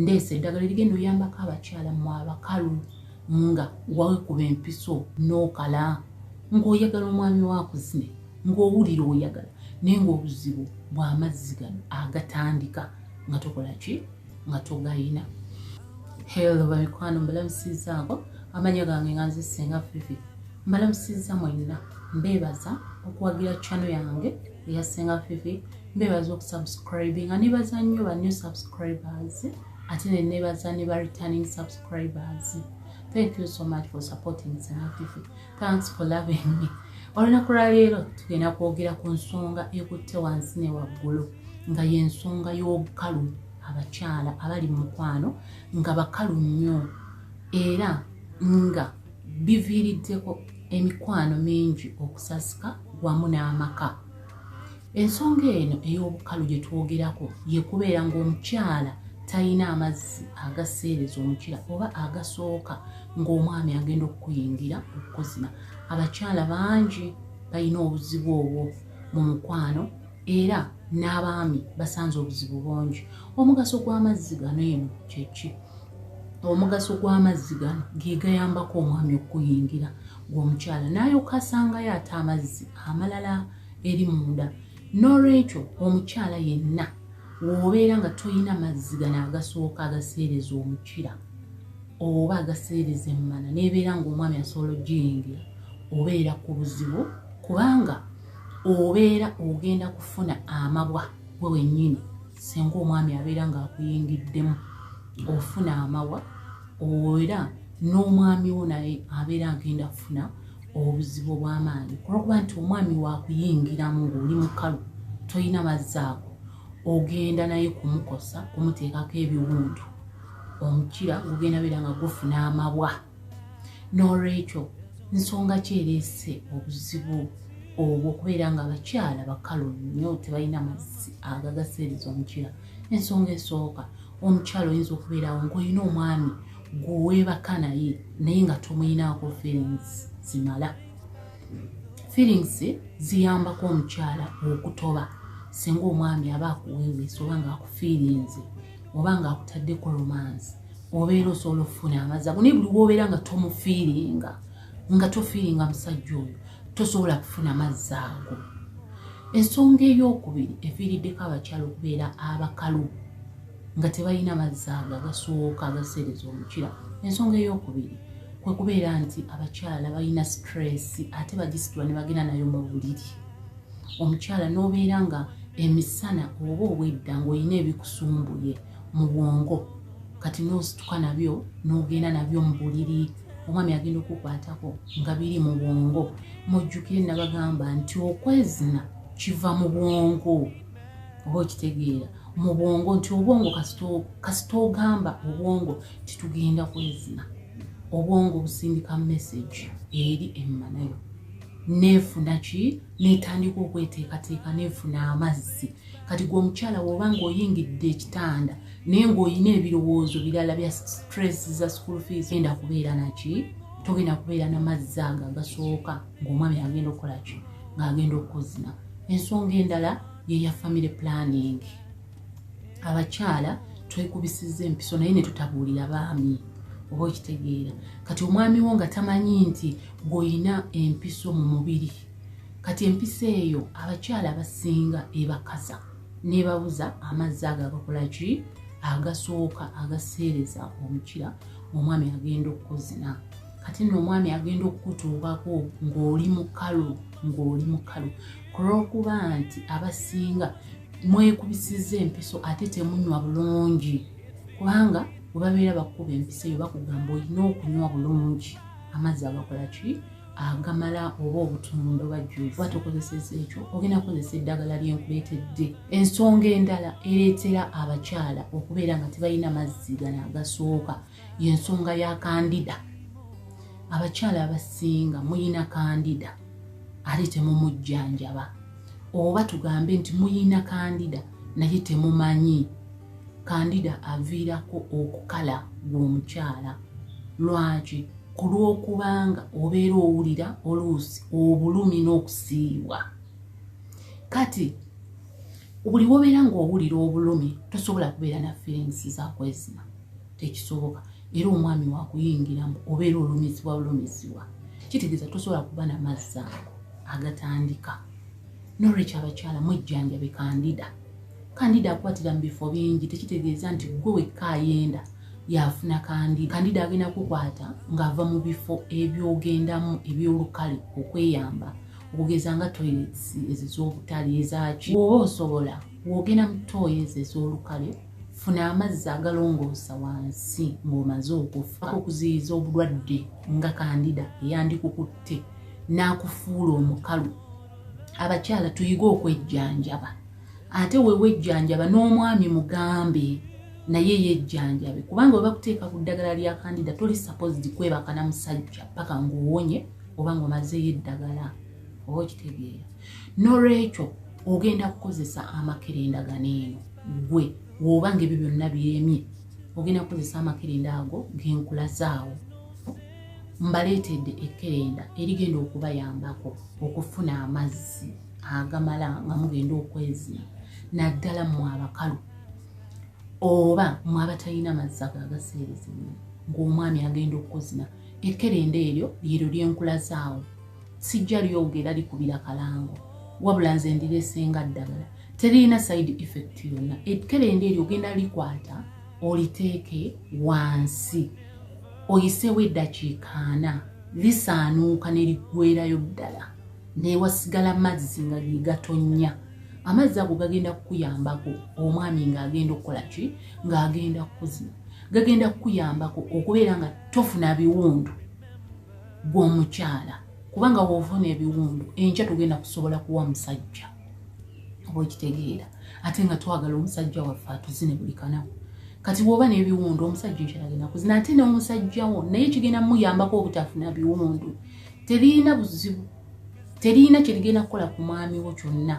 ndeesa eddagala erigenda oyambako abakyala mu abakalu nga wawekuba empiso n'okala ng'oyagala omwami wakuzine ng'owulira oyagala naye ng'obuzibu bw'amazzi gano agatandika nga tokola ki nga togayina helo bamikwano mbalamusizaako amanya gange nga nze senga fifi mbalamusiza mwenna mbeebaza okuwagira chano yange eya senga fifi mbebaza okusubscribinga nebaza nnyo ba new subscribers ate ne nebaza ne ba returning subscribers thank you so much for supporting senga fifi thanks for loving me olunaku lwaleero tugenda kwogera ku nsonga ekutte wansi ne waggulu nga yensonga y'obukalu abakyala abali mu mukwano nga bakalu nnyo era nga biviiriddeko emikwano mingi okusasika wamu n'amaka ensonga eno ey'obukalu gye twogerako ye kubeera ng'omukyala talina amazzi agaseereza omukira oba agasooka ng'omwami agenda okukuyingira okukuzina abakyala bangi balina obuzibu obwo mu mukwano era n'abaami basanze obuzibu bungi omugaso gw'amazzi gano eno kyeki omugaso gw'amazzi gano ge gayambako omwami okuguyingira ng'omukyala n'alyoka asangayo ate amazzi amalala eri munda n'olwekyo omukyala yenna w'obeera nga tolina mazzi gano agasooka agaseereza omukira oba agaseereza emmana n'ebeera ng'omwami asobola okugiyingira obeera ku buzibu kubanga obeera ogenda kufuna amabwa gwe wennyini senga omwami abeera ng'akuyingiddemu ofuna amawa era n'omwami wo naye abeera agenda kufuna obuzibu obw'amaanyi kulwokuba nti omwami wakuyingiramu ng'oli mukalu tolina mazzi ago ogenda naye kumukosa kumuteekako ebiwundu omukira gugenda beera nga gufuna amabwa n'olwekyo nsonga ki ereese obuzibu obwo okubeera nga abakyala bakalu nnyo tebalina mazzi agagaseereza omukyala ensonga esooka omukyala oyinza okubeerawo ngaolina omwami gweweebaka naye naye nga tomuyinaako feelings zimala feelings ziyambako omukyala okutoba singa omwami aba akuweeweesa oba nga akufiirinze oba nga akutadde ku romance obeera osobola okufuna amazzi ago naye buli wobeera nga tomufiiringa nga tofiiringa musajja oyo tosobola kufuna mazzi ago ensonga eyokubiri eviiriddeko abakyala okubeera abakalu nga tebalina mazzi ago agasooka agaseereza omukira ensonga eyokubiri kwekubeera nti abakyala balina situreesi ate bagisitula ne bagenda nayo mu buliri omukyala n'obeera nga emisana oba obwedda ng'olina ebikusumbuye mu bwongo kati n'osituka nabyo n'ogenda nabyo mu buliri omwami agenda okukwatako nga biri mu bwongo mujjukire nabagamba nti okwezina kiva mu bwongo oba okitegeera mu bwongo nti obwongo kasita ogamba obwongo titugenda kwezina obwongo busindika message eri emmanayo nefuna ki netandika okweteekateeka nefuna amazzi kati gwe omukyala woba nga oyingidde ekitanda naye ngaolina ebirowoozo birala bya stress za school fees enda kubeera naki togenda kubeera namazzi ago agasooka ngaomwami agenda okukolaki ngaagenda okukuzina ensonga endala yeya family planning abakyala twekubisiza empiso naye netutabuulira baami oba okitegeera kati omwami wo nga tamanyi nti gweolina empiso mu mubiri kati empiso eyo abakyala abasinga ebakaza nebabuza amazzi ago agakola ki agasooka agaseereza omukira omwami agenda okukuzina kati nno omwami agenda okukutuukako ng'oli mukalu ng'oli mukalu kulwokuba nti abasinga mwekubisiza empiso ate temunywa bulungi kubanga webabeera bakukuba empiso eyo bakugamba olina okunywa bulungi amazzi agakola ki agamala oba obutundo bajjuvu ate okozeseza ekyo ogenda kukozesa eddagala lyenkuleetedde ensonga endala ereetera abakyala okubeera nga tebalina mazzi gano agasooka yensonga ya kandida abakyala abasinga muyina kandida ate temumujjanjaba oba tugambe nti muyina kandida naye temumanyi kandida aviirako okukala gwomukyala lwaki ku lw'okubanga obeera owulira oluusi obulumi n'okusiibwa kati buli wobeera ng'owulira obulumi tosobola kubeera na feelings zakwezima tekisoboka era omwami wakuyingiramu obeera olumizibwa bulumizibwa kitegeeza tosobola kuba na mazzi ago agatandika nolwekyo abakyala mwejjanjabe kandida kandida akwatira mu bifo bingi tekitegeeza nti gwe wekka ayenda yafuna kandida kandida agenda kukwata ng'ava mu bifo ebyogendamu ebyolukale okweyamba okugeza nga toilets ezo z'obutale ezaki oba osobola wogenda mu toyi ezo ez'olukale funa amazzi agalongoosa wansi ng'omaze okufa okuziyiza obulwadde nga kandida eyandikukutte n'akufuula omukalu abakyala tuyige okwejjanjaba ate wewejjanjaba n'omwami mugambe naye yejjanjabe kubanga we bakuteeka ku ddagala lya kandida toli saposidi kwebaka na musajja paka ng'owonye oba ng'omazeeyo eddagala oba okitegeera nolwekyo ogenda kukozesa amakerenda gano eno gwe woba nga ebyo byonna byemye ogenda kukozesa amakerenda ago genkulazaawo mbaleetedde ekerenda erigenda okubayambako okufuna amazzi agamala nga mugenda okwezina naddala mwe abakalu oba mwe abatalina mazzi ago agaseerezimu ng'omwami agenda okukozina ekerenda eryo lyeryo lyenkulazaawo sijja lyoga era likubira kalango wabula nze ndiresenga ddagala teririna side effect yonna ekerende eryo ogenda likwata oliteeke wansi oyiseewo eddakiika ana lisaanuuka ne liggwerayo ddala newasigala mazzi nga ge gatonnya amazzi ago gagenda kukuyambako omwami ng'agenda okukola ki ng'agenda kukuzina gagenda kukuyambako okubeera nga tofuna biwundu gwe omukyala kubanga wovuna ebiwundu enkya tugenda kusobola kuwa musajja oba okitegeera ate nga twagala omusajja waffe atuzine buli kanaku kati woba nebiwundu omusajja ekyalagenda kuzina ate nomusajja wo naye kigenda muyambako obutafuna biwundu terina buzibu terina kyerigenda kukola ku mwami wo kyonna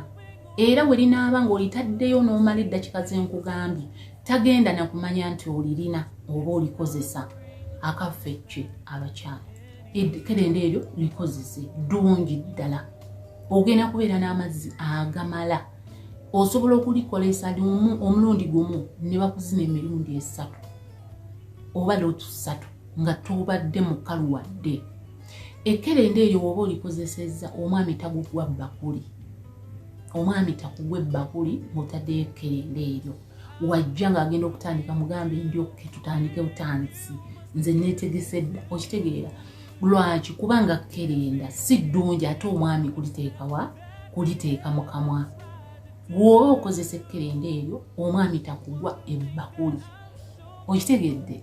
era werinaaba ngaolitaddeyo nomala eddakika zenkugambye tagenda nakumanya nti olirina oba olikozesa akaffe kye abakyala ekerenda eryo likozese ddungi ddala ogenda kubeera n'amazzi agamala osobola okulikolesa limu omulundi gumu ne bakuzina emirundi esatu oba lootu ssatu nga tobadde mukalu wadde ekerenda eryo woba olikozesezza omwami tagugwa bbakuli omwami takugwa ebbakuli ng'otaddeyo ekerenda eryo wajja ng'agenda okutandika mugambe ndi okke tutandike butandisi nze neetegese dda okitegeera lwaki kubanga kerenda si ddungi ate omwami kuliteekawa kuliteeka mu kamwa gwoba okozesa ekkerenda eryo omwami takugwa ebbakuli okitegedde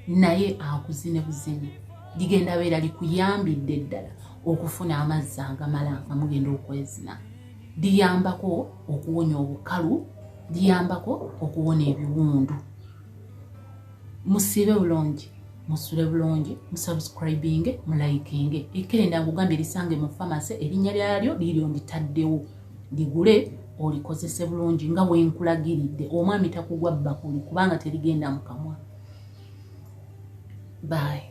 naye akuzine buzine ligenda beera likuyambidde ddala okufuna amazzi agamala nga mugenda okwezina liyambako okuwonya obukalu liyambako okuwona ebiwundu musiibe bulungi musule bulungi musubscribinge mulayikinge ekerenda ngugamba erisange mu famase erinnya lyalyo liryo nditaddewo ligule olikozese bulungi nga wenkulagiridde omwami takugwa bbakuli kubanga terigenda mu kamwa bayi